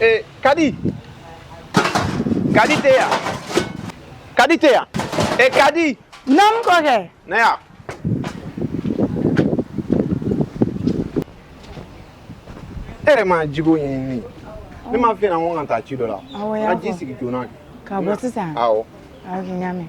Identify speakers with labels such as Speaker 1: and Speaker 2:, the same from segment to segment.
Speaker 1: Eh, Kadi. Kadi tɛ yan. Kadi tɛ yan. Eh, Kadi. Naamu kɔkɛ.
Speaker 2: Na yan.
Speaker 1: E yɛrɛ ma jiko ɲɛɲini. Ne m'a f'i ɲɛna ko n ka taa ci dɔ la. Awɔ, y'a fɔ. N ka ji sigi
Speaker 2: joona.
Speaker 1: Ka bɔ sisan.
Speaker 2: Awɔ. Oke,
Speaker 1: n y'a mɛn.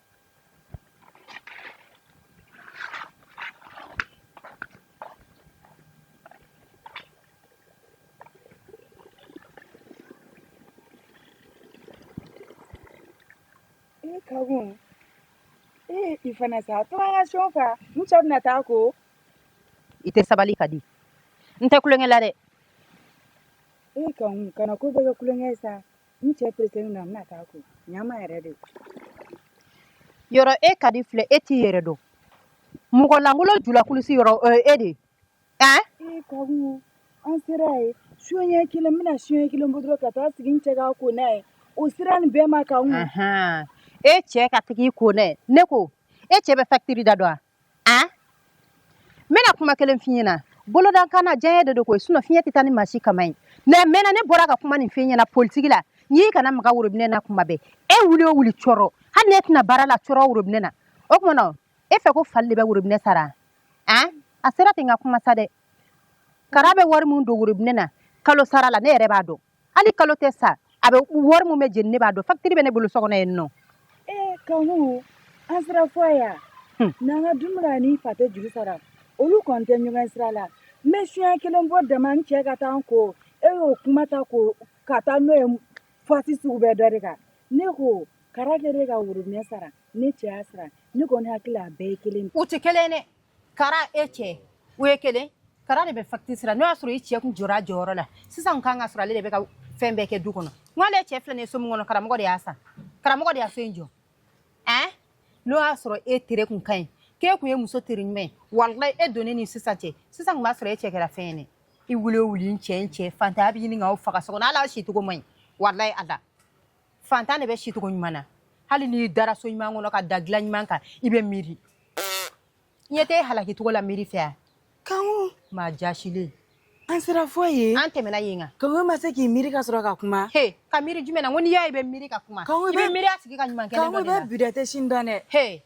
Speaker 3: Kanku ee i fana sa a to n ka so fa n cɛ bɛna taa ko i tɛ
Speaker 4: sabali Kadi n tɛ kulonkɛ la dɛ ee
Speaker 3: Kanku kana ko bɛɛ kɛ kulonkɛ ye sa n cɛ peresenen a bɛna taa ko ɲama yɛrɛ
Speaker 4: de yɔrɔ e kadi filɛ e t'i yɛrɛ dɔn mɔgɔ lankolon julakulusi yɔrɔ o ye e de ye ɛn e
Speaker 3: kanku an sera yen so ɲɛ kelen n bɛna so ɲɛ kelen bɔ dɔrɔn ka taa sigi n cɛ ka ko n'a ye o sera nin bɛɛ ma kanku e
Speaker 4: cɛ ka taa i ko n'a ye ne ko e cɛ bɛ facture da dɔn wa a n bɛna kuma kelen f'i ɲɛna bolodakan na diɲɛ de don koyi sinon fiɲɛ tɛ taa ni maa si kama ye mais maintenant ne bɔra ka kuma nin f'i ɲɛna politigi la n k'i kana maga worobinɛ na kuma bɛɛ e wuli o wuli cɔrɔ hali ne tɛna baara la cɔrɔ worobinɛ na o tuma na e fɛ ko fali de bɛ worobinɛ sara a a sera ten n ka kuma sa dɛ kara bɛ wari min don worobinɛ na kalo sara la ne yɛrɛ b'a dɔn hali kalo tɛ sa a bɛ wari min bɛ jeni ne b'a dɔn fakitiri bɛ ne bolo so kɔnɔ yen nɔ ee
Speaker 3: kanku an sera fo yan hmm. n'an ka dumuni ani fa tɛ juru sara olu kɔni tɛ ɲɔgɔn sira la n bɛ so ɲɛ kelen bɔ dama n cɛ ka taa n ko e y'o kuma ta ko ka taa n'o ye fasi sugu bɛɛ dɔ de kan ne ko kara kɛlen ka worobinɛ sara ne cɛ y'a sara ne kɔni hakili la a bɛɛ ye kelen u tɛ kelen dɛ
Speaker 4: Kara e cɛ o ye kelen kara de bɛ fakitiri sara n'o y'a sɔrɔ i cɛ kun jɔra a jɔyɔrɔ la sisan kan k'a sɔrɔ ale de bɛ ka fɛn bɛɛ kɛ du kɔnɔ n'ale cɛ filɛ nin ye so min kɔnɔ karamɔgɔ de y'a san karamɔgɔ de ye so in jɔ ɛ n'o y'a sɔrɔ e tere kun ka ɲi k'e tun ye muso tere ɲuman ye walayi e donnen ni sisan cɛ sisan tun b'a sɔrɔ e cɛ kɛra fɛn ye i wuli o wuli n cɛ fantanya bɛ ɲini k'aw faga so kɔnɔ hali aw sicogo man ɲi walayi ala fantan de bɛ sicogo ɲuman na hali n'i dara so ɲuman kɔnɔ ka da dilan ɲuman kan i bɛ miiri n ɲɛ t'e halakicogo la miiri fɛ yan kanku
Speaker 3: maa jaasilen
Speaker 4: an sera
Speaker 3: fo yen an tɛmɛna yen kan
Speaker 4: kanku ma se k'i miiri
Speaker 3: ka sɔrɔ ka kuma he ka miiri jumɛn na ko
Speaker 4: n'i y'a ye i bɛ miiri ka kuma i bɛ miiri a tigi ka ɲuman kɛnen dɔ de la kanku i bɛ bi dɔn i tɛ sini dɔn
Speaker 3: dɛ he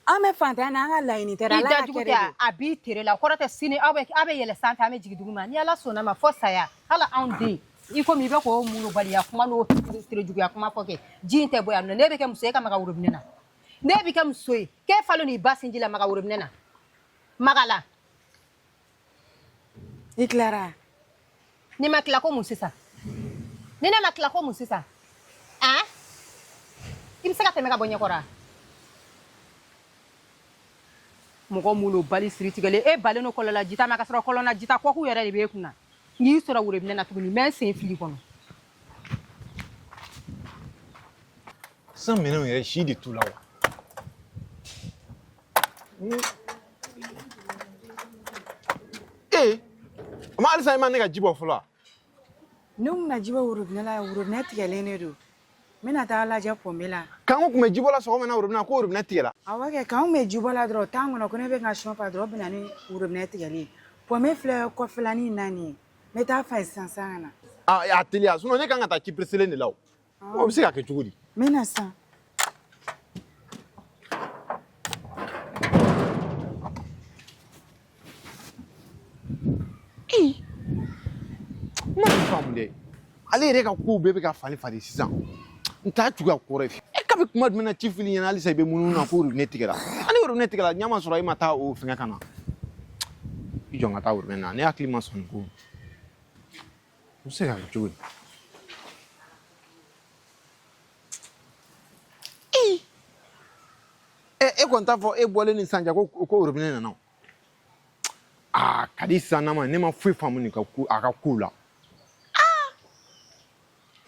Speaker 3: an bɛ fantanya na an ka laɲini tɛ i da jugu tɛ a b'i tere la
Speaker 4: kɔrɔ tɛ sini aw bɛ aw bɛ yɛlɛ sanfɛ an bɛ jigin duguma ni ala sɔnna ma fɔ saya hali anw den i komi i bɛ k'o malobaliya kuma n'o tere juguya kuma fɔ kɛ ji in tɛ bɔ yan nɔ n'e bɛ kɛ muso ye e ka maga worobinɛ na n'e bɛ kɛ muso ye k'e falen n'i ba sinji la maga worobinɛ na maga a la
Speaker 3: I tilara ni
Speaker 4: ma tila ko mun sisan ni ne ma tila ko mun sisan a i bɛ se ka tɛmɛ ka bɔ ɲɛkɔrɔ wa mɔgɔ minnu bali siri tigɛlen e balen no kɔlɔnla jita ma ka sɔrɔ kɔlɔnna jita kɔkun yɛrɛ de b'e kunna n y'i sɔrɔ worobinɛ na tuguni n bɛ n sen fil'i kɔnɔ
Speaker 1: san minɛnw yɛrɛ si de t'u la wa ee o ma halisa i ma ne ka ji bɔ fɔlɔ wa ne kun
Speaker 3: na ji bɔ worobinɛ la worobinɛ tigɛlen de don n bɛna taa lajɛ pɔnpe la kanku kun bɛ ji bɔ la
Speaker 1: sɔgɔma na worobinɛ ko worobinɛ tigɛla awɔ kɛ kanku bɛ
Speaker 3: ji bɔ la dɔrɔn tan kɔnɔ ko ne bɛ n ka so fa dɔrɔn bɛnna ni worobinɛ tigɛli pɔnpe filɛ kɔfɛlanin naani ye n bɛ taa fa yen sisan sisan ka na a a teliya sinɔn
Speaker 1: ne kan ka taa ci pereselen de la o O bɛ se ka kɛ cogo di
Speaker 3: n bɛna
Speaker 1: sisan n ma faamu dɛ ale yɛrɛ ka kow bɛɛ bɛ ka falen falen sisan n t'a cogoya kɔrɔ ye e kabi kuma jumɛn na ci fil'i ɲɛ na halisa i bɛ munumunu na ko robinet tigɛra ani robinet tigɛra ɲɛ ma sɔrɔ e ma taa o fɛngɛ ka na i jɔ n ka taa robinet na ne hakili ma sɔn nin ko E, e kɔni t'a fɔ e bɔlen ni sisan cɛ ko ko orobinɛ nana o aa kadi sisan na ma ne ma foyi faamu nin ka ko a ka kow la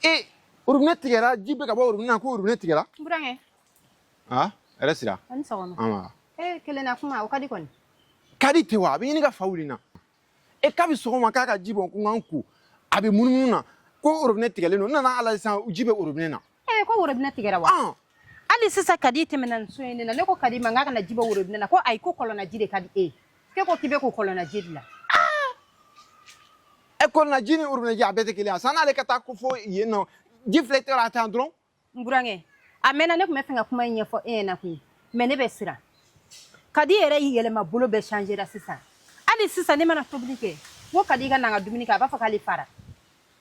Speaker 1: e orobinɛ tigɛra ji bɛ ka bɔ orobinɛ na ko orobinɛ tigɛra burankɛ a hɛrɛ sira a ni sɔgɔma nba ee
Speaker 4: kelen na kuma o kadi kɔni kadi tɛ wa a
Speaker 1: bɛ ɲini ka fa wuli n na e kabi sɔgɔma k'a ka ji bɔ ko n ka n ko a bɛ munumunu na ko orobinɛ tigɛlen don n nana hali sisan ji bɛ orobinɛ na ee ko worobinɛ tigɛra
Speaker 4: wa ɔn hali sisan kadi tɛmɛna nin so in de la ne ko kadi ma n k'a ka na ji bɔ worobinɛ na ko ayi ko kɔlɔnna ji de ka di e ye k'e ko k'i bɛ ko kɔlɔnna ji de
Speaker 1: la ɛ kɔlɔnna ji ni orobinɛ ji a bɛɛ tɛ kelen ye a san n'ale ka taa ko fo yen nɔ ji filɛ i tɛgɛ la a tan dɔrɔn n
Speaker 4: burankɛ a mɛnna ne tun bɛ fɛ ka kuma in ɲɛfɔ e ɲɛ na koyi mɛ ne bɛ siran kadi yɛrɛ y'i yɛlɛma bolo bɛɛ changera sisan hali sisan ne mana tobili kɛ n ko kadi ka na an ka dumuni kɛ a b'a fɔ k'ale fara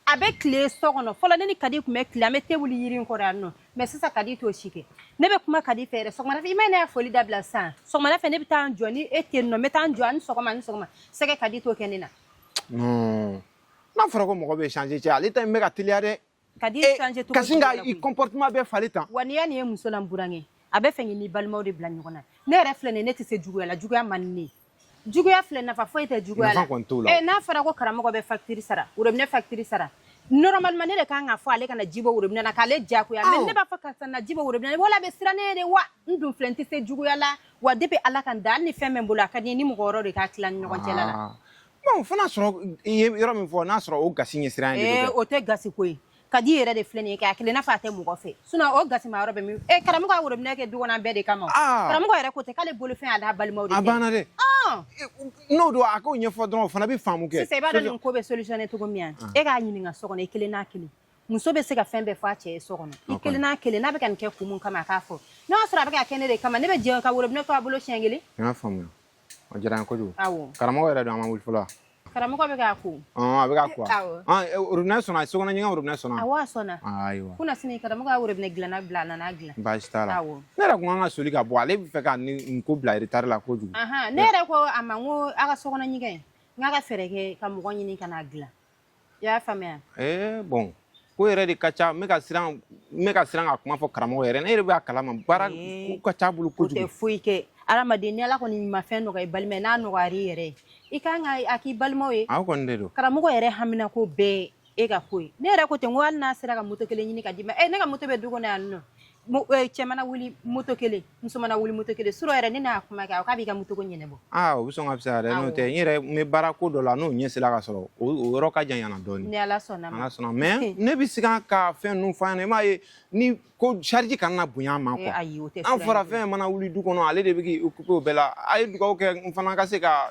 Speaker 4: a bɛ tile so kɔnɔ fɔlɔ ne ni kadi tun bɛ tile an bɛ te wuli yiri in kɔrɔ yan nɔ mɛ sisan kadi t'o si kɛ ne bɛ kuma kadi fɛ yɛrɛ sɔgɔmada fɛ i ma ne y'a foli dabila sisan sɔgɔmada fɛ ne bɛ taa n jɔ ni e tɛ yen nɔ n bɛ taa n jɔ a ni sɔgɔma a ni sɔgɔma sɛgɛ kadi t'o kɛ ne na
Speaker 1: n'a fɔra ko mɔgɔ bɛ change cɛ ale ta in bɛ ka teliya dɛ kadi eh, changer
Speaker 4: to kasi nga i
Speaker 1: comportement bɛ falen tan wa n'i y'a nin ye muso
Speaker 4: la n burankɛ a b'a fɛ k'i ni balimaw de bila ɲɔgɔn na ne yɛrɛ filɛ nin ye ne tɛ se juguya la juguya man di ne ye juguya filɛ nafa foyi tɛ juguya la eh, n'a fɔra ko karamɔgɔ bɛ facture sara worobinɛ facture sara normalement ne de kan ka fɔ ale kana ji bɔ worobinɛ na k'ale diyagoya mais ne b'a fɔ karisa na ji bɔ worobinɛ na wala a bɛ siran ne ye de wa n dun filɛ n tɛ se juguya la wa depuis ala ka n da hali ni fɛn bɛ n bolo a ka di n ye ni mɔgɔ wɛrɛw de k'a tila ni ɲɔgɔn cɛla la ah. Bon fo n'a
Speaker 1: sɔrɔ i ye yɔrɔ min fɔ n'a sɔrɔ o gasi ɲɛsiran ye o tɛ gasi ko
Speaker 4: ye kadi yɛrɛ de filɛ nin ye kɛ a kɛlen n'a fɔ a tɛ mɔgɔ fɛ sinon o gasi yɔrɔ bɛ min e karamɔgɔ ka worobinɛ kɛ du kɔnɔ an bɛɛ de kama karamɔgɔ yɛrɛ ko tɛ k'ale bolofɛn d'a balimaw ma a banna dɛ
Speaker 1: n'o don a k'o ɲɛfɔ dɔrɔn o fana bɛ faamu kɛ i b'a dɔn nin ko bɛ
Speaker 4: solutionner cogo min yan e k'a ɲininka so kɔnɔ i kelen n'a kelen muso bɛ se ka fɛn bɛɛ fɔ a cɛ ye so kɔnɔ i kelen n'a kelen n'a bɛ ka nin kɛ kun min kama a k'a fɔ n'a y'a sɔrɔ a bɛ ka kɛ ne de kama ne bɛ jɛn ka worobinɛ to a bolo siɲɛ kelen
Speaker 1: O diyara n ye kojugu. Awɔ. Karamɔgɔ yɛrɛ dun a
Speaker 4: ma wuli
Speaker 1: fɔlɔ wa? Karamɔgɔ bɛ
Speaker 4: k'a ko. Ɔn a bɛ k'a ko wa? Awɔ.
Speaker 1: Ɔn e robinet sɔnna, sokɔnɔ ɲɛgɛn robinet sɔnna wa? Awɔ a sɔnna. Aa ayiwa.
Speaker 4: Kunasini
Speaker 1: karamɔgɔ y'a
Speaker 4: robinet dilanna bila a nana dilan. Baasi t'a la. Awɔ.
Speaker 1: Ne yɛrɛ tun ka kan ka
Speaker 4: soli ka
Speaker 1: bɔ ale b'a fɛ ka nin nin ko bila retard la kojugu. Anhan ne yɛrɛ ko a
Speaker 4: ma n ko a ka sokɔnɔ ɲɛgɛn n k'a ka fɛɛrɛ kɛ ka mɔgɔ ɲini ka n'a dilan. i y'a faamuya ee
Speaker 1: bon ko yɛrɛ de ka ca n bɛ ka siran n bɛ ka siran ka kuma fɔ karamɔgɔ yɛrɛ ne yɛrɛ b'a kalama baara ko ka ca a bolo kojugu o tɛ foyi kɛ
Speaker 4: adamaden ni ala kɔni ma fɛn nɔgɔya i balima ye n'a nɔgɔyara i yɛrɛ ye i kan ka a k'i balimaw ye aw kɔni de don
Speaker 1: karamɔgɔ yɛrɛ hamina
Speaker 4: ko bɛɛ e ka ko ye ne yɛrɛ ko ten n ko hali n'a sera ka moto kelen ɲini ka d'i ma e ne ka moto bɛ du kɔnɔ yan nɔ cɛ mana wuli moto kelen muso mana wuli moto kelen surɔ yɛrɛ ne n'a kuma kɛ k'a b'i ka moto ko ɲɛnabɔ aa o bɛ sɔn ka
Speaker 1: fisaya dɛ n'o tɛ n yɛrɛ n bɛ baara ko dɔ la n'o ɲɛ sera ka sɔrɔ o yɔrɔ ka jan yan na dɔɔnin ni ala sɔnna ala
Speaker 4: sɔnna mais
Speaker 1: ne bɛ se ka fɛn ninnu fɔ a ɲɛna i m'a ye ni ko charge kana na bonya a ma quoi ayi o tɛ an fɔra fɛn
Speaker 4: mana wuli
Speaker 1: du kɔnɔ ale de bɛ k'i occuper o bɛɛ la a ye dugawu kɛ n fana ka se ka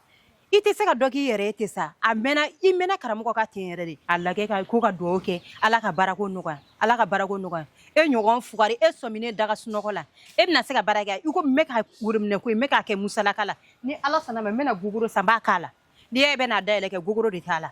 Speaker 4: i tɛ se ka dɔ k'i yɛrɛ ye ten sa a mɛnna i mɛnna karamɔgɔ kan ten yɛrɛ dɛ a lajɛ ko ka dugawu kɛ ala ka baarako nɔgɔya ala ka baarako nɔgɔya e ɲɔgɔn fugari e sɔmin ne daga sunɔgɔ la e bɛna se ka baara kɛ i ko n bɛ ka worobinɛ ko n bɛ k'a kɛ musalaka la ni ala sɔnna ma n bɛna gogoro san k'a k'a la n'i e bɛn'a dayɛlɛ kɛ gogoro de t'a la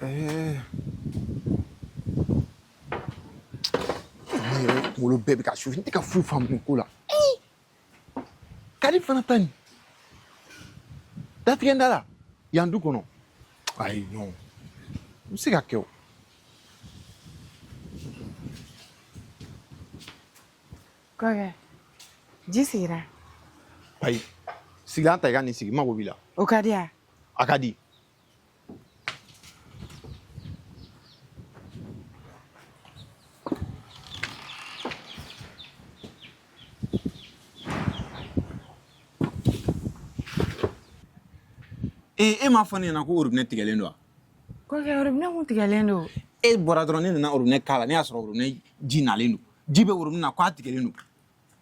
Speaker 1: Eh. wolo bɛɛ bɛ ka su n tɛ ka foyi faamu nin ko la kadi fana ta nin datigɛ da la yan du kɔnɔ ayi non n bɛ se ka kɛ o
Speaker 2: kɔkɛ ji sigira ayi
Speaker 1: sigilan ta i ka n'i sigi n mago b'i la o kadi yan
Speaker 2: a kadi
Speaker 1: ee e m'a fɔ ne ɲɛna ko orobinɛ tigɛlen don wa kɔkɛ
Speaker 2: orobinɛ kun tigɛlen don e bɔra dɔrɔn ne
Speaker 1: nana orobinɛ k'a la ne y'a sɔrɔ orobinɛ ji nalen don ji bɛ orobinɛ na k'a tigɛlen don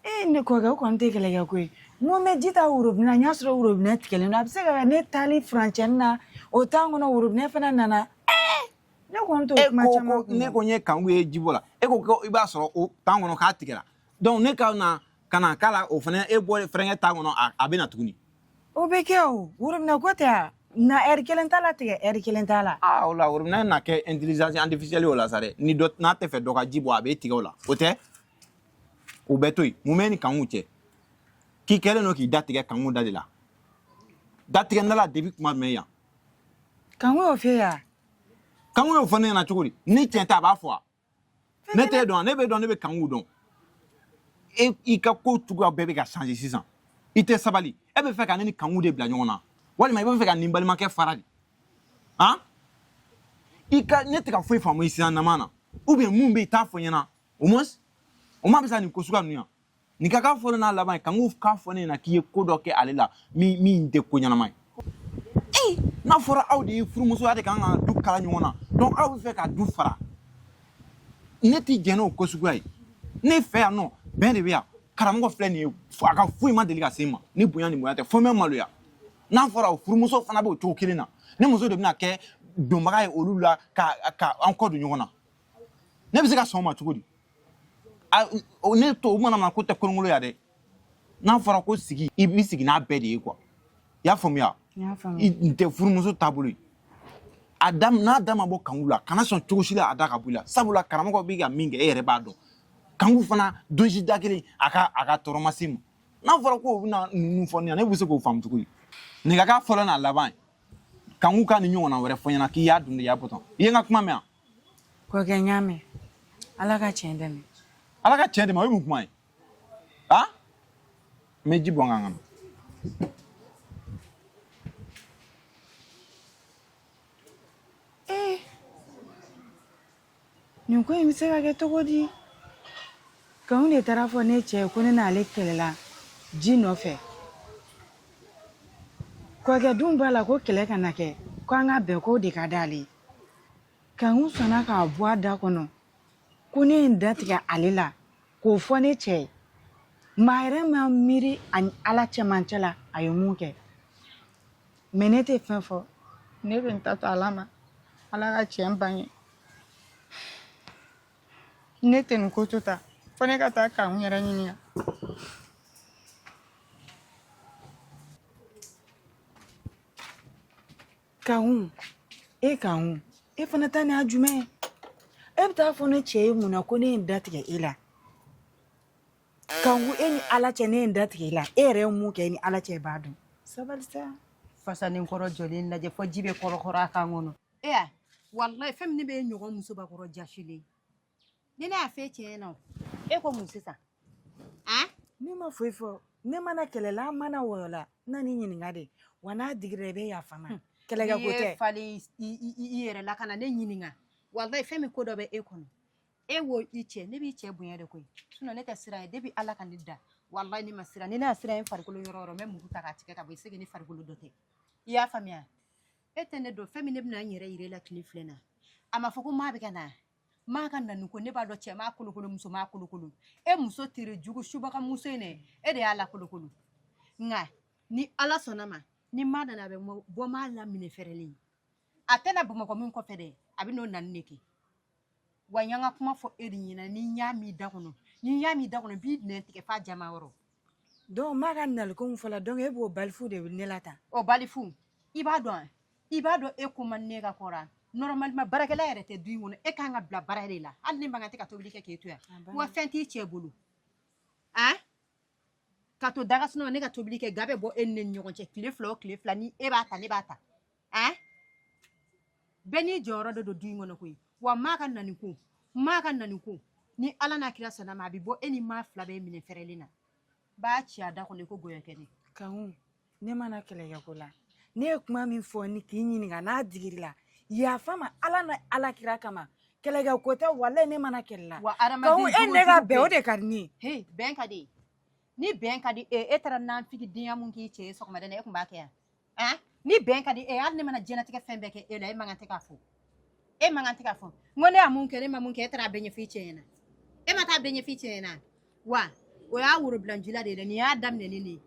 Speaker 1: e
Speaker 2: ye ne kɔkɛ o kɔni tɛ kɛlɛkɛ ko ye n ko n bɛ ji ta worobinɛ na n y'a sɔrɔ worobinɛ tigɛlen don a bɛ se ka kɛ ne taali furancɛni na o tan kɔnɔ worobinɛ fana nana ne kɔni t'o e kuma ko caman ko ne ko n ye kanku ye
Speaker 1: ji bɔ la e ko ko i b'a sɔrɔ o tan kɔnɔ k'a tigɛra donc ne ka na ka na k'a la o fana e bɔ fɛrɛnkɛ tan kɔnɔ a- a bɛ na tuguni o bɛ
Speaker 2: kɛ o worobinɛ ko tɛ a na ɛri kelen t'a la tigɛ ɛri kelen t'a la aa o la worobinɛ na
Speaker 1: kɛ intelligence artificielle o la sa dɛ ni dɔ n'a tɛ fɛ dɔ ka ji bɔ a bɛ tigɛ o la o tɛ o bɛɛ to yen mun b'i ni kanku cɛ k'i kɛlen don k'i da tigɛ kanku da de la da tigɛ nala debi kuma mɛn yan
Speaker 2: kanku y'o f'e ye wa kanku y'o
Speaker 1: fɔ ne ɲɛna cogo di ni tiɲɛ tɛ a b'a fɔ wa ne t'e dɔn wa ne b'e dɔn ne bɛ kanku dɔn e i ka ko cogoya bɛɛ bɛ ka changer sisan i tɛ sabali e b'a fɛ ka ne ni kanku de bila ɲɔgɔn na walima i b'a fɛ ka n ni n balimakɛ fara de han i ka ne tɛ ka foyi faamu i sisan nama na ou bien mun bɛ yen i t'a fɔ n ɲɛna au moins o ma bɛn sa nin ko suguya ninnu yan nin ka k'a fɔlɔ n'a laban ye kanku k'a fɔ ne ɲɛna k'i ye ko dɔ kɛ ale la min min tɛ ko ɲɛnama ye ee n'a fɔra aw de ye furumuso ye aw de kan ka du kala ɲɔgɔn na donc aw b'a fɛ ka du fara ne tɛ jɛn n'o ko suguya ye ne fɛ yan nɔ bɛn de bɛ yan karamɔgɔ filɛ nin ye a ka foyi ma deli ka se n ma ni bonya ni mɔgɔya tɛ fo n bɛ maloya n'a fɔra o furumuso fana bɛ o cogo kelen na ne muso de bɛna kɛ donbaga ye olu la ka ka an kɔ don ɲɔgɔn na ne bɛ se ka sɔn o ma cogo di ne to o mana na ko tɛ kolonkolon ya dɛ n'a fɔra ko sigi i b'i sigi n'a bɛɛ de ye kuwa i y'a faamuya nin tɛ furumuso taabolo ye a da n'a da ma bɔ kanku la kana sɔn cogo si la a da ka bɔ i la sabula karamɔgɔ bɛ ka min kɛ e yɛrɛ b'a dɔn kanku fana don si da kelen a ka a ka tɔɔrɔ ma se n ma n'a fɔra ko o bɛna ninnu fɔ ne ɲɛna ne bɛ se k'o faamu cogo di nin ka k'a fɔlɔ n'a laban kanku ka nin ɲɔgɔnna wɛrɛ fɔ n ɲɛna k'i y'a dun de y'a bɔtɔ i ye n ka kuma mɛn wa Kɔkɛ
Speaker 2: n y'a mɛn ala ka tiɲɛ dɛmɛ ala ka tiɲɛ dɛmɛ o ye
Speaker 1: mun kuma ye a n bɛ ji bɔn kan kɔnɔ
Speaker 2: ee nin ko in bɛ se ka kɛ cogo di kanku de taara a fɔ ne cɛ ye ko ne n'ale kɛlɛla ji nɔfɛ kɔkɛ dun b'a la ko kɛlɛ kana kɛ ko an ka bɛn k'o de ka d'ale ye Kanku sɔnna k'a bɔ a da kɔnɔ ko ne ye n datigɛ ale la k'o fɔ ne cɛ ye maa yɛrɛ ma miiri a ni ala cɛmancɛ la a ye mun kɛ mais ne tɛ fɛn fɔ ne bɛ n ta to ala ma ala ka tiɲɛ bange ne tɛ nin ko to tan fo ne ka taa kanku yɛrɛ ɲininka Kanku e kanku e fana ta nin jumɛn ye e bɛ taa fɔ ne cɛ ye mun na ko ne ye n da tigɛ e la kanku e ni ala cɛ ne ye n da tigɛ e la e yɛrɛ ye mun kɛ e ni ala cɛ b'a dɔn sabali
Speaker 4: fasanen kɔrɔ jɔlen lajɛ fo ji bɛ kɔrɔkɔrɔ a kan kɔnɔ e walayi fɛn min bɛ ye ɲɔgɔn musobakɔrɔ jasilen ni ne y'a f'e cɛ ɲɛna o e ko mun sisan
Speaker 2: a ne ma foyi fɔ ne ma na kɛlɛ la n ma na wɔyɔ la n nan'i ɲininka de wa n'a digira i bɛ yafa n ma kɛlɛkɛ ko tɛ
Speaker 4: far'i yɛrɛ la kana ne ɲininka walayi fɛn min ko dɔ bɛ e kɔnɔ e wo i cɛ ne b'i cɛ bonya de koyi sinɔn ne tɛ siran ye depi ala ka ne da walayi ne ma siran ni ne y'a siran ye farikolo yɔrɔ o yɔrɔ n bɛ muru ta k'a tigɛ ka bɔ i segi ne farikolo dɔ tɛ i y'a faamuya e tɛ ne dɔn fɛn min ne bɛna n yɛrɛ yira e la tile fila in na a ma fɔ ko maa bɛ ka na maa ka nani ko ne b'a dɔn cɛ maa kolokolo muso maa kolokolo e muso tere jugu subaga muso in dɛ e de y'a lakolokolo nka ni ala sɔnna ma ni maa nana a bɛ mɔ- bɔ maa la minɛ fɛrɛlen a tɛna bɔ mɔgɔ min kɔfɛ dɛ a bɛn'o nani de kɛ wa n y'an ka kuma fɔ e de ɲɛna ni n y'a mɛn i da kɔnɔ ni n y'a mɛn i da kɔnɔ n b'i nɛn tigɛ f'a jama yɔrɔ Donc
Speaker 2: maa ka naliko min fɔla donc e b'o balifu de ne la tan o
Speaker 4: balifu i b'a dɔn an i b'a dɔn e ko man ne ka kɔrɔ an normalement baarakɛla yɛrɛ tɛ du in kɔnɔ e kan ka bila baara de la hali ne man kan tɛ ka tobili kɛ k'e to yan wa fɛn t'i cɛ bolo an ka to da ka sunɔgɔ ne ka tobili kɛ ga bɛ bɔ e ni ne ni ɲɔgɔn cɛ tile fila o tile fila ni e b'a ta ne b'a ta eh bɛɛ n'i jɔyɔrɔ de don du in kɔnɔ koyi wa maa ka nani ko maa ka nani ko ni ala n'a kira sɔnna ma a bɛ bɔ e ni maa fila bɛɛ minɛ fɛrɛlen na b'a ci a da kɔnɔ i ko gɔyɔ kɛnɛ kanku
Speaker 2: ne ma na kɛlɛkɛ ko la ne ye kuma mɛn fo ne k'i ɲininka n'a digir'i la yafa n ma ala ni ala kira kama kɛlɛkɛ ko tɛ walayi ne ma na kɛlɛ la wa kanku e ni ne ka bɛn o de ka di ne ye bɛn ka di
Speaker 4: ni bɛn ka di e e taara nanfigi denya mun k'i cɛ ye sɔgɔmada e tun b'a kɛ yan ah? ni bɛn ka di e hali ne mana jɛnatigɛ fɛn bɛɛ kɛ e la e man kan tɛ k'a fɔ e man kan tɛ k'a fɔ n ko ne ye mun kɛ ne ma mun kɛ e taara a bɛɛ ɲɛf'i cɛ ɲɛna e ma taa a bɛɛ ɲɛf'i cɛ ɲɛna wa o y'a worobilanjila de ye dɛ nin y'a daminɛ ni nin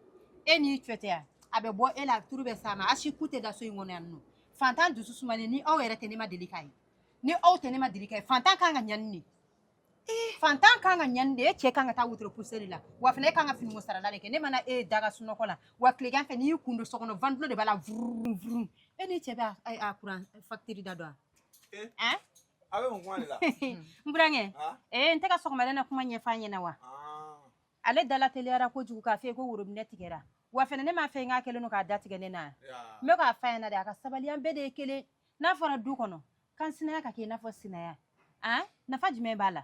Speaker 4: e n'i cɛ tɛ yan a bɛ bɔ e la turu bɛ s'a ma a si ku tɛ da so in kɔnɔ yan nɔ fantan dusu sumalen ni aw yɛrɛ tɛ ne ma deli k'a ye ni aw tɛ ne ma deli k'a ye fantan kan ka ɲani nin Eh. fantan kan ka ɲani de e cɛ kan ka taa wotoro pusɛri la wa fana e kan ka finiko sarala de kɛ ne mana e da ka sunɔgɔ la wa tilegan fɛ n'i y'i kun don so kɔnɔ vantilo de b'a la vurun vurun e n'i cɛ bɛ a kuran fakitiri da dɔn eh. a a bɛ mun kuma de
Speaker 1: la n
Speaker 4: burankɛ ee n tɛ ka sɔgɔmada na kuma ɲɛf'a ɲɛna wa ah. ale dala teliyara kojugu k'a fɔ ko worobinɛ tigɛra wa fana ne m'a fɛ n k'a kɛlen don k'a datigɛ ne na n bɛ k'a f'a ɲɛna de a ka sabali an bɛɛ de ye kelen n'a fɔra du kɔnɔ Kansinaya ka kɛ i n'a fɔ sinaya an nafa jumɛn b'a la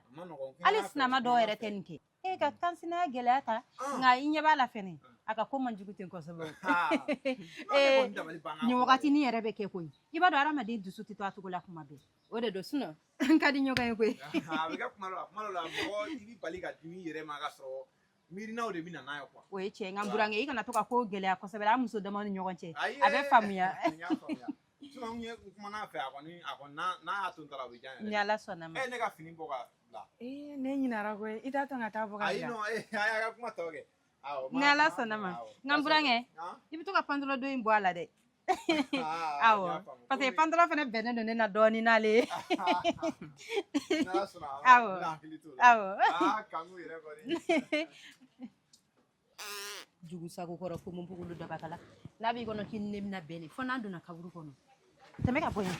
Speaker 4: hali sinama dɔw yɛrɛ tɛ nin kɛ e ka kansinaya gɛlɛya ta nka i ɲɛ b'a la fɛnɛ a ka ko man jugu ten kosɛbɛ nin wagati ni yɛrɛ bɛ kɛ koyi i b'a dɔn hadamaden dusu tɛ to a cogo la kuma bɛɛ o de don sinɔ n ka di ɲɔgɔn ye koyi
Speaker 1: miirinaw de bɛ na n'a ye quoi o ye tiɲɛ ye nka burankɛ
Speaker 4: i kana to ka ko gɛlɛya kosɛbɛ an muso dama ni ɲɔgɔn cɛ Ayi, a bɛ ee, faamuya n y'a faamuya
Speaker 1: sinon n ye n kumana a fɛ a kɔni a kɔni n'a n'a y'a to n ta la o bɛ diya ne yɛrɛ ye ala sɔnna ma ɛ ne
Speaker 4: ka fini bɔ
Speaker 1: ka bila ee ne
Speaker 2: ɲinara koyi i t'a to n ka taa bɔ ka ayi bila non ee a y'a ka kuma tɔ
Speaker 1: kɛ awɔ ni ala sɔnna
Speaker 4: ma nka burankɛ i bɛ to ka pantalon don in bɔ a la dɛ Ah, awɔ parce que pantalon fana bɛnnen don ne na dɔɔnin n'ale ye awɔ awɔ jugu sago kɔrɔ ko mun bugulu dabakala n'a b'i kɔnɔ k'i ni ne bɛna bɛn de fo n'an donna kaburu kɔnɔ tɛmɛ ka bɔ yan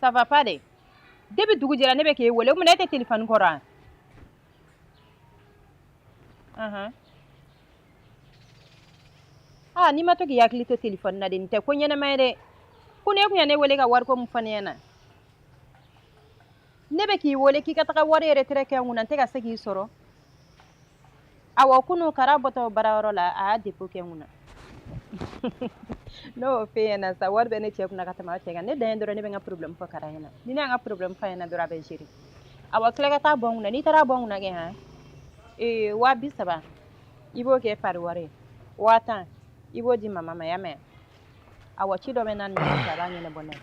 Speaker 4: ça va pas dɛ depuis dugu jɛra ne bɛ k'e wele o mun na e tɛ telefɔni kɔrɔ an aa ah, n'i ma to k'i hakili to telefɔni na de nin tɛ ko ɲɛnama ye dɛ kunun e tun ye ne wele ka wariko min fɔ ne ɲɛna ne bɛ k'i wele k'i ka taga wari retrait kɛ n kunna n tɛ ka se k'i sɔrɔ Awɔ kunun kara bɔtɔ baarayɔrɔ la a y'a dépôt kɛ n kunna n y'o f'e ɲɛna sa wari bɛ ne cɛ kun ka tɛmɛ aw cɛ kan ne dan ye dɔrɔn ne bɛ n ka porobilɛmu fɔ kara ɲɛna ni ne ye n ka porobilɛmu f'a ɲɛna dɔrɔn a bɛ gérer awɔ tila ka taa bɔ n kunna n'i taara bɔ n kunna kɛ h ee waa bi saba i b'o kɛ pari wari ye waa tan i b'o di mama ma i y'a mɛn awɔ ci dɔ bɛ n n'a cɛ a b'a ɲɛnabɔ ne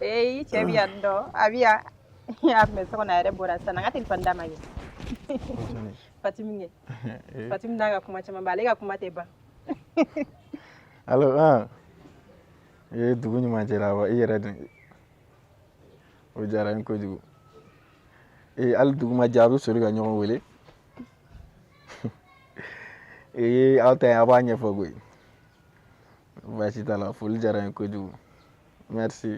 Speaker 4: ye i cɛ bɛ yan dɔn a bɛ yan a tun bɛ so kɔnɔ a yɛrɛ bɔra sisan n ka telefɔni d'a ma ye Fatimi kɛ Fatimi n'a ka kuma caman ba ale ka kuma tɛ ban alo
Speaker 5: an e dugu ɲuman jɛra wa i yɛrɛ dun o diyara n ye kojugu ee hali dugu ma jɛ a bɛ soli ka ɲɔgɔn wele ee aw ta ye a b'a ɲɛfɔ koyi baasi t'a la foli diyara n ye kojugu merci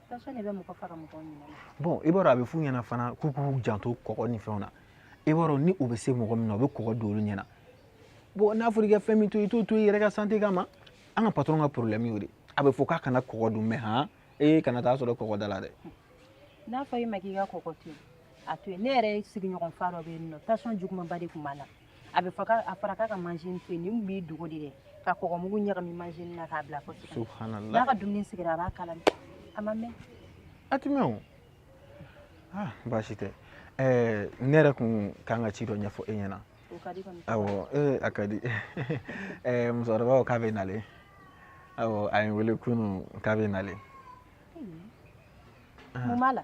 Speaker 4: bon i b'a dɔn a bɛ
Speaker 5: f'u ɲɛna fana k'u k'u janto kɔgɔ ni fɛnw na i b'a dɔn ni u bɛ se mɔgɔ min na u bɛ kɔgɔ don olu ɲɛna bon n'a fɔra i ka fɛn min to i t'o to i yɛrɛ ka santé kama an ka patron ka problème y'o de a bɛ fɔ k'a kana kɔgɔ dun mais han ee kana taa sɔrɔ kɔgɔ da la dɛ n'a fɔ
Speaker 4: i ma k'i ka kɔgɔ to yen a to yen ne yɛrɛ sigiɲɔgɔn fa dɔ bɛ yen nɔ tension jugumanba de tun b'a la a bɛ fɔ a fɔra k'a ka machin to yen nin b'i dogo de dɛ ka kɔgɔmugu ɲagami machin na k'a bila fo subhanallah n'a ka
Speaker 5: dumuni sigira a b'a
Speaker 4: k'a la a ma mɛɛn a ti mɛɛn o
Speaker 5: ah, baasi tɛ eh, ne yɛrɛ kun kan ka ci dɔ ɲɛfɔ e
Speaker 4: ɲɛna awɔ eh, a ka
Speaker 5: di eh, musokɔrɔba ko k'a bɛ nalen awɔ a ye n wele kunun k'a bɛ nalen
Speaker 4: mun b'a la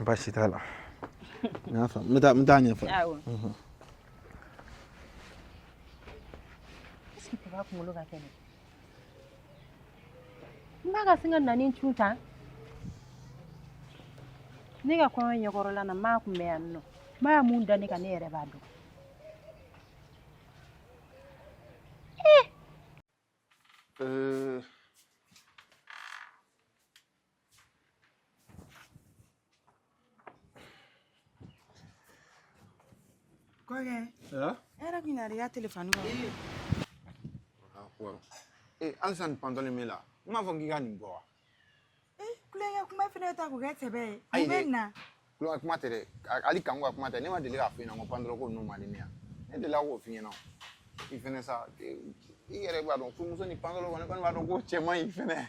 Speaker 4: Baasi t'a
Speaker 5: la. Nafa, n t'a n t'a ɲɛfɔ.
Speaker 4: Awɔ. Mhm. Est-ce que n ba kunkolo ka kɛnɛ. N ba ka sin ka na n'i cun tan. Ne ka kɔɲɔ ɲɛkɔrɔla na, n ba kun bɛ yan nɔ. N ba mun da ne kan ne yɛrɛ b'a dɔn. Eh. Euh...
Speaker 2: Kɔkɛ. Aa. E yɛrɛ kun nana i ka telefɔni kɔnɔ.
Speaker 1: Ee. Aa ko. Ee halisa nin pantalon min la. N m'a fɔ k'i ka nin bɔ wa.
Speaker 2: Ee kulonkɛ kuma fana ta k'o kɛ sɛbɛ ye. Ayi dɛ. Mun bɛ na. Kulonkɛ kuma tɛ
Speaker 1: dɛ. Hali kanko ka kuma tɛ. Ne ma deli k'a f'i ɲɛna ko pantalon ko ninnu man di ne ye. Ne delila k'o f'i ɲɛna. I fɛnɛ sa i yɛrɛ b'a dɔn furumuso ni pantalon kɔni b'a dɔn k'o cɛ man ɲi fɛnɛ.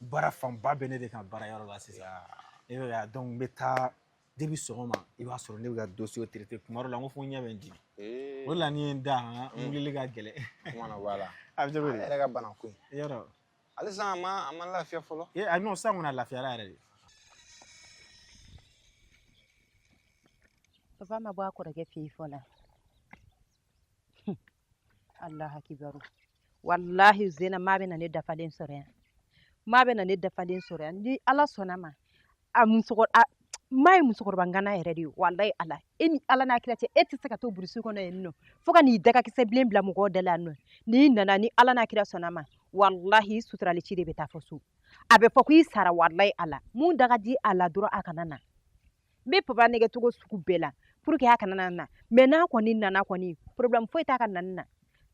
Speaker 5: baara fanba bɛ ne de kan baara yɔrɔ la sisan e bɛ k'a ye donc n bɛ taa depuis sɔgɔma i b'a sɔrɔ ne bɛ ka dossier traiter kuma dɔ la n ko fo n ɲɛ bɛ n dimi o la ni n ye n da han n wulili ka gɛlɛn kuma na b'a la
Speaker 1: a bɛ cogo di yɛrɛ ka
Speaker 5: bana ko
Speaker 1: in yɔrɔ halisa
Speaker 5: a
Speaker 1: ma a ma lafiya fɔlɔ e a non sisan kɔni a
Speaker 5: lafiyara yɛrɛ
Speaker 4: de papa ma bɔ a kɔrɔkɛ fɛ yen fɔlɔ Allahu akibaru wallahi zena ma bɛ na ne dafalen sɔrɔ yan ma bɛ na ne dafalen sɔrɔ yan ni ala sɔnna ma a musokɔrɔ a ma ye musokɔrɔba ngana yɛrɛ de ye walayi ala e ni ala n'a kira cɛ e tɛ se ka to burusi kɔnɔ yen nɔ fo ka n'i dagakisɛ bilen bila mɔgɔw da la yan nɔ n'i nana ni ala n'a kira sɔnna ma walahi i suturali ci de bɛ taa fɔ so a bɛ fɔ ko i sara walayi ala mun daga di a la dɔrɔn a kana na n bɛ papa nɛgɛn cogo sugu bɛɛ la pour que a kana na na mais n'a kɔni nana kɔni problème foyi t'a ka nani na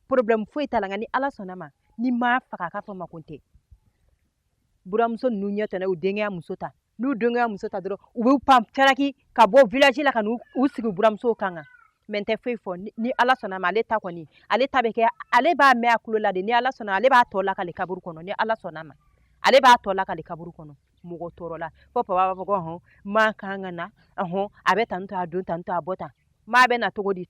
Speaker 4: problème foyi t'a la nka ni ala sɔnna ma ni n m'a faga k'a fɔ makun tɛ buramuso ninnu ye ten n'u denkɛ ye muso ta n'u denkɛ ye muso ta dɔrɔn u bɛ pan caraki ka bɔ village la ka n'u u sigi buramusow kan kan mais n tɛ foyi fɔ ni- ni ala sɔnna ma ale ta kɔni ale ta bɛ kɛ ale b'a mɛn a tulo la de ni ala sɔnna ale b'a tɔ lakale kaburu kɔnɔ ni ala sɔnna ma ale b'a tɔ lakale kaburu kɔnɔ mɔgɔ tɔɔrɔ la fo papa b'a fɔ ko hɔn maa kan ka na hɔn a bɛ tantôt a don tantôt a bɔ tan maa bɛ na cogo di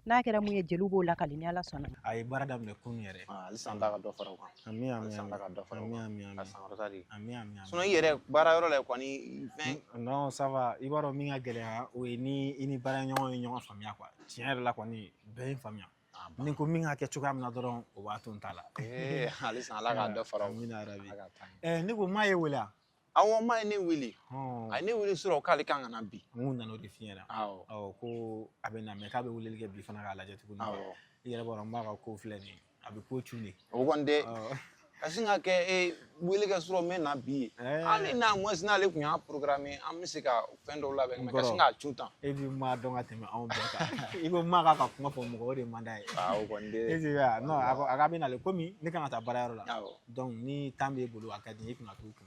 Speaker 4: n'a kɛra min ye jeliw b'o lakali ni ala sɔnna a ye baara daminɛ kunun
Speaker 5: yɛrɛ halisa ala ka dɔ fara
Speaker 1: o kan ami ami halisa ala ka
Speaker 5: dɔ fara o kan
Speaker 1: ami ami k'a sankɔrɔta
Speaker 5: de
Speaker 1: ami ami sinon i
Speaker 5: yɛrɛ baarayɔrɔ
Speaker 1: la kɔni fɛn non ça va i
Speaker 5: b'a dɔn min ka gɛlɛya o ye ni i ni baaraɲɔgɔn ye ɲɔgɔn faamuya quoi tiɲɛ yɛrɛ la kɔni bɛɛ ye n faamuya Ah, ba. ni ko min ka kɛ cogoya min na dɔrɔn o b'a to n ta la Ee, halisa
Speaker 1: ala ka dɔ fara o kan. Amina yarabi. Ala k'a to an
Speaker 5: ye. Eh, ne ko
Speaker 1: maa y'e wele wa
Speaker 5: awɔ maa ye ne
Speaker 1: wele Hɔn, a ye ne wele sɔrɔ k'ale kan ka na bi n kun nana o de f'i
Speaker 5: ɲɛna awɔ awɔ
Speaker 1: ko a bɛ
Speaker 5: na mais k'a bɛ weleli kɛ bi fana k'a lajɛ tuguni awɔ i yɛrɛ b'a dɔn
Speaker 1: n ba ka
Speaker 5: ko filɛ nin ye a bɛ ko cun de o kɔni tɛ Awɔ.
Speaker 1: ka sin ka kɛ e wele kɛ sɔrɔ n bɛ na bi ye hali au moins n'ale kun y'a programmer an bɛ se ka fɛn dɔw labɛn ka sin ka cun tan e bɛ maa dɔn ka tɛmɛ
Speaker 5: anw bɛɛ kan i ko maa k'a ka kuma fɔ mɔgɔ o de man d'a ye
Speaker 1: e a
Speaker 5: k'a bɛ na ale komi ne kan ka taa baarayɔrɔ la donc ni
Speaker 1: temps
Speaker 5: b'e bolo a ka di i kun ka t'u kun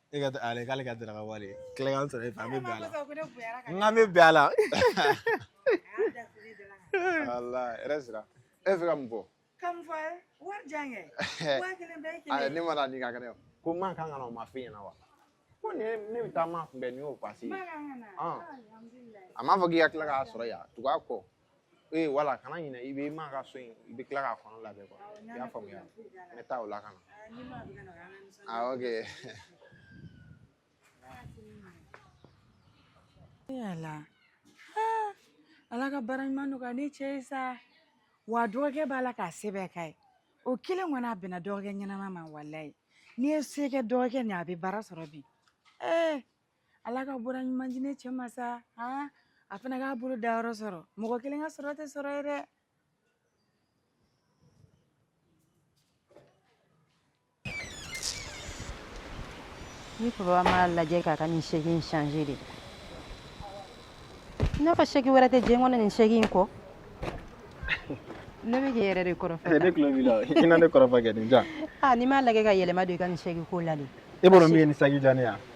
Speaker 2: e ka ale k'ale
Speaker 5: ka daraka wari tilekan sɔrɔ e fɛ an bɛ bɛn a la n
Speaker 2: k'an bɛ bɛn a la walayi hɛrɛ sira
Speaker 1: e bɛ fɛ ka mun fɔ ka mun fɔ
Speaker 2: wari jan kɛ waa kelen bɛɛ ye kelen ne ma taa ni ka
Speaker 1: kɛnɛ ko maa kan ka na o ma f'i ɲɛna wa ko ne ne bɛ taa maa kunbɛn ni y'o pasi ye a m'a
Speaker 2: fɔ k'i ka tila k'a
Speaker 1: sɔrɔ yan tugu a kɔ ee wala kana ɲinɛ i bɛ maa ka so in i bɛ tila k'a kɔnɔ labɛn quoi i y'a faamuya n bɛ taa o la ka
Speaker 2: na ah ok yala ah, ala ka baara ɲuman nɔgɔya ne cɛ ye sa wa dɔgɔkɛ b'a la k'a se bɛɛ k'a ye o kelen kɔni a bɛnna dɔgɔkɛ ɲɛnama ma walayi n'i ye se kɛ dɔgɔkɛ nin a bɛ baara sɔrɔ bi ee eh, ala ka baara ɲuman di ne cɛ ma sa aa a fana k'a bolo da yɔrɔ sɔrɔ mɔgɔ kelen ka sɔrɔ tɛ sɔrɔ ye
Speaker 4: dɛ ni papa m'a lajɛ k'a ka nin sɛki in changer de i n'a fɔ sɛki wɛrɛ tɛ diɲɛ kɔnɔ nin sɛki in kɔ ne bɛ k'i yɛrɛ de kɔrɔfɔ ne tulo b'i la i na
Speaker 5: ne kɔrɔfɔ kɛ nin ja n'i m'a lajɛ ka yɛlɛma
Speaker 4: don i ka nin sɛki ko la de e b'a dɔn min ye nin sɛki
Speaker 5: diya ne ye wa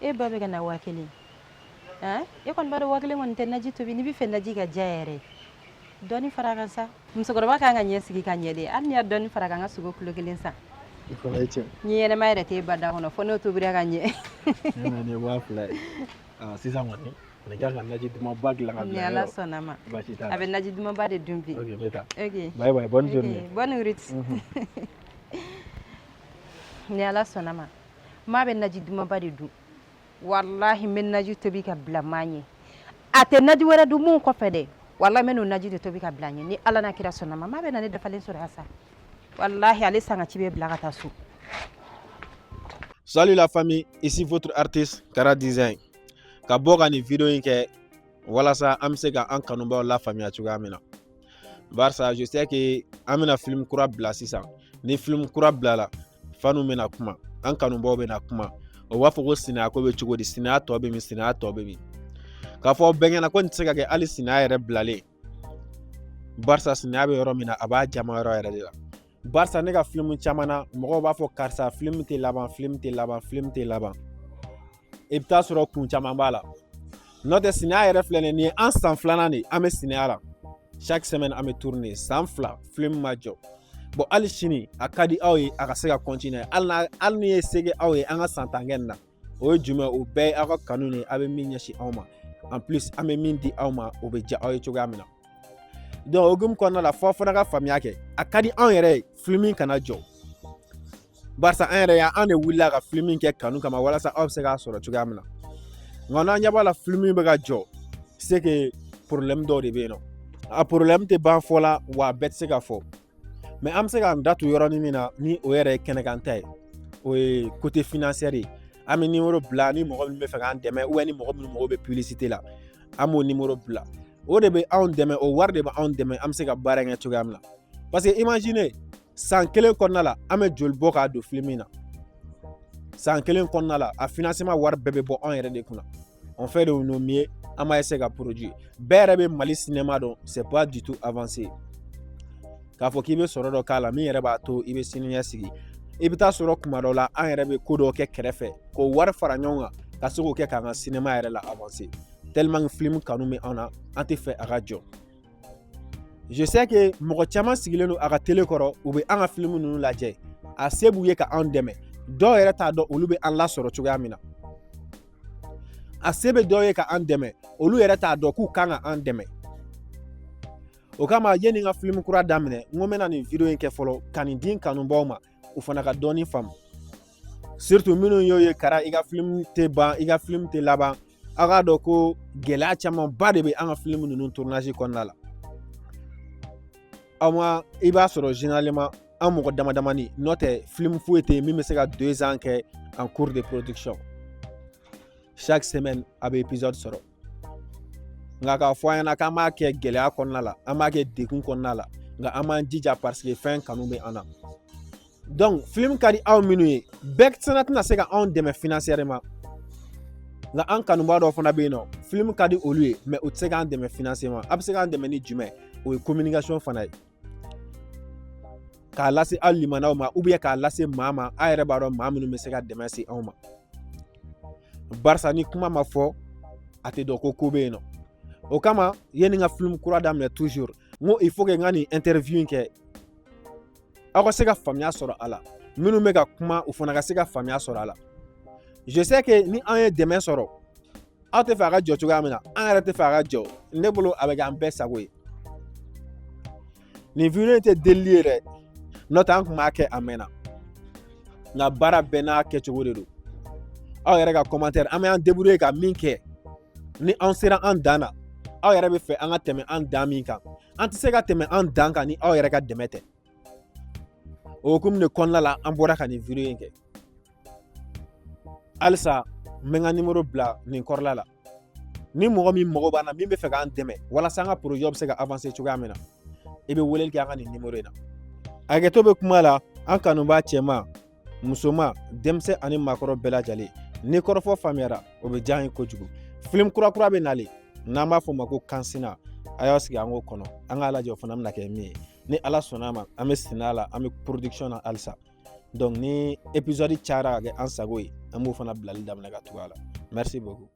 Speaker 4: e ba bɛ ka na waa kelen e kɔni b'a dɔn waa kelen kɔni tɛ naji tobi n'i bɛ fɛ naji ka diya yɛrɛ dɔɔni fara a kan sa musokɔrɔba kan k'a ɲɛsigi ka ɲɛ de hali n'i ye dɔɔni fara a kan n ka sogo kilo kelen san
Speaker 5: ɲin ɲɛnama yɛrɛ t'e ba
Speaker 4: da kɔnɔ fo n'o tobira ka ɲɛ
Speaker 5: ne waa fila ye sisan kɔni ne kan ka naji dumanba dilan k'a bila yɔrɔ ni ala sɔnna ma
Speaker 4: baasi
Speaker 5: t'a
Speaker 4: la a bɛ naji
Speaker 5: dumanba de
Speaker 4: dun bi ok n bɛ taa ok
Speaker 5: bye bye bonne
Speaker 4: journée
Speaker 5: bonne route
Speaker 4: ni ala sɔnna ma maa bɛ naji dumanba de dun walahi n bɛ naji tobi ka bila maa ɲɛ a tɛ naji wɛrɛ dun mun kɔfɛ dɛ walahi n bɛ n'o naji de tobi ka bila ɲɛ ni ala n'a kira sɔnna ma maa bɛ na ne dafalen sɔrɔ yan sa walahi ale sanga ci bɛ bila ka taa so
Speaker 5: Salut la famille, ici votre artiste Kara Design. Ka bɔ ka nin video in kɛ walasa an bɛ se ka an kanubaw lafaamuya cogoya min na. Barisa je sais que an bɛna film kura bila sisan. Ni film kura bilala fanu bɛna kuma an kanubaaw bɛna kuma o b'a fɔ ko sinaya ko bɛ cogo di sinaya tɔ bɛ min sinaya tɔ bɛ min k'a fɔ bɛɛ ɲɛna ko nin tɛ se ka kɛ hali sinaya yɛrɛ bilalen barisa sinaya bɛ yɔrɔ min na a b'a jama yɔrɔ yɛrɛ de la barisa ne ka filimu caman na mɔgɔw b'a fɔ karisa filimu tɛ laban filimu tɛ laban filimu tɛ laban i bɛ taa sɔrɔ kun caman b'a la n'o tɛ sinaya yɛrɛ filɛ nin ye nin ye an san filanan de ye an bɛ sinaya la chaque semaine an bɛ tourner san fila filimu in ma jɔ hali sini a ka di aw ye a ka se ka continuer hali ni ye se kɛ aw ye an ka san tan kɛ nin na o ye jumɛn o bɛɛ ye aw ka kanu de ye a bɛ min ɲɛsin anw ma en plus an bɛ min di aw ma o bɛ diya aw ye cogoya min na donc o hukumu kɔnɔna la fɔ aw fana ka faamuya kɛ a ka di anw yɛrɛ ye filimu in kana jɔ barisa an yɛrɛ an de wulila ka filimu in kɛ kanu kama walasa aw bɛ se k'a sɔrɔ cogoya min na nka n'an ɲɛ b'a la filimu in bɛ ka jɔ c'est que porobilɛmu dɔw de bɛ yen nɔ a porobilɛmu tɛ ban fɔ la wa a bɛɛ tɛ se ka fɔ mais an bɛ se k'an da don yɔrɔnin min na ni o yɛrɛ ye kɛnɛkan ta ye o ye côté financier ye an bɛ nimoro bila ni mɔgɔ min b'a fɛ k'an dɛmɛ ou bien ni mɔgɔ minnu mago bɛ pibilisite la an b'o nimoro bila o de bɛ anw dɛmɛ o wari de bɛ anw dɛmɛ an bɛ se ka baara in kɛ cogoya min na parce que imagine san kelen kɔnɔna la an bɛ joli bɔ k'a don filimu in na san kelen kɔnɔna la a financement wari bɛɛ bɛ bɔ anw yɛrɛ de kunna on fait de nos mieux an b'a essayer ka produire bɛɛ yɛrɛ bɛ mali sinɛma dɔn c'est pas du tout avancé k'a fɔ k'i bɛ sɔrɔ dɔ k'a la min yɛrɛ b'a to i bɛ sini ɲɛ sigi i
Speaker 6: bɛ taa sɔrɔ kuma dɔ la an yɛrɛ bɛ ko dɔ kɛ kɛrɛfɛ k'o wari fara ɲɔgɔn kan ka se k'o kɛ k'an ka sinɛma yɛrɛ la avancer tellement filimu kanu bɛ an na an tɛ fɛ a ka jɔ je sais que mɔgɔ caman sigilen don a ka tele kɔrɔ u bɛ an ka filimu ninnu lajɛ a se b'u ye ka anw dɛmɛ dɔw yɛrɛ t'a dɔn olu bɛ an lasɔrɔ cogoya min na a se bɛ dɔw ye ka an dɛmɛ olu yɛrɛ t'a dɔn k'u kan ka an dɛmɛ o kama yanni n ka filimu kura daminɛ n ko n bɛna nin video in kɛ fɔlɔ ka nin di n kanubaaw ma u fana ka dɔɔnin faamu surtout minnu y'o ye kara i ka film tɛ ban i ka film tɛ laban aw k'a dɔn ko gɛlɛya camanba de bɛ an ka film ninnu tournage kɔnɔna la aw ma i b'a sɔrɔ généralement an mɔgɔ damadamanin n'o tɛ film foyi tɛ yen min bɛ se ka deux ans kɛ en cours de production chaque semaine a bɛ épisode sɔrɔ nka k'a fɔ an ɲɛna k'an b'a kɛ gɛlɛya kɔnɔna la an b'a kɛ degun kɔnɔna la nka an b'an jija parce que fɛn kanu bɛ an na donc film ka di aw minnu ye bɛɛ fana tɛna se ka anw dɛmɛ financièrement nka an kanubaa dɔw fana bɛ yen nɔ film ka di olu ye mais u tɛ se k'an dɛmɛ financièrement a bɛ se k'an dɛmɛ ni jumɛn o ye communication fana ye k'a lase aw limanaw ma ou bien k'a lase maa ma a yɛrɛ b'a dɔn maa minnu bɛ se ka dɛmɛ se anw ma barisa ni kuma ma fɔ a tɛ dɔn ko ko bɛ yen nɔ o kama yanni n ka film kura daminɛ toujours n ko il faut que n ka nin interview in kɛ aw ka se ka faamuya sɔrɔ a la minnu bɛ ka kuma u fana ka se ka faamuya sɔrɔ a la je sais que ni an ye dɛmɛ sɔrɔ aw tɛ fɛ a ka jɔ cogoya min na an yɛrɛ tɛ fɛ a ka jɔ ne bolo a bɛ kɛ an bɛɛ sago ye nin video in tɛ delili ye dɛ n'o tɛ an kun b'a kɛ a mɛnna nka baara bɛɛ n'a kɛcogo de don aw yɛrɛ ka commentaire an bɛ an débrouiller ka min kɛ ni an sera an dan na aw yɛrɛ bɛ fɛ an ka tɛmɛ an dan min kan an tɛ se ka tɛmɛ an dan kan ni aw yɛrɛ ka dɛmɛ tɛ o hukumu de kɔnɔna la an bɔra ka nin video in kɛ halisa n bɛ n ka nimoro bila nin kɔrɔla la ni mɔgɔ min mago b'an na min bɛ fɛ k'an dɛmɛ walasa an ka projet bɛ se ka avancer cogoya min na i bɛ weleli kɛ an ka nin nimoro in na hakɛto bɛ kuma la an kanubaa cɛman musoman denmisɛn ani maakɔrɔ bɛɛ lajɛlen ni kɔrɔfɔ faamuyara o bɛ diya an ye kojugu film kura kura bɛ nalen n'an b'a fɔ o ma ko kansina a y'aw sigi an k'o kɔnɔ an k'a lajɛ o fana bɛna kɛ min ye ni ala sɔnna a ma an bɛ sɛnɛ la an bɛ production na halisa donc ni episode cayara ka kɛ an sago ye an b'o fana bilali daminɛ ka tugu a la merci beaucoup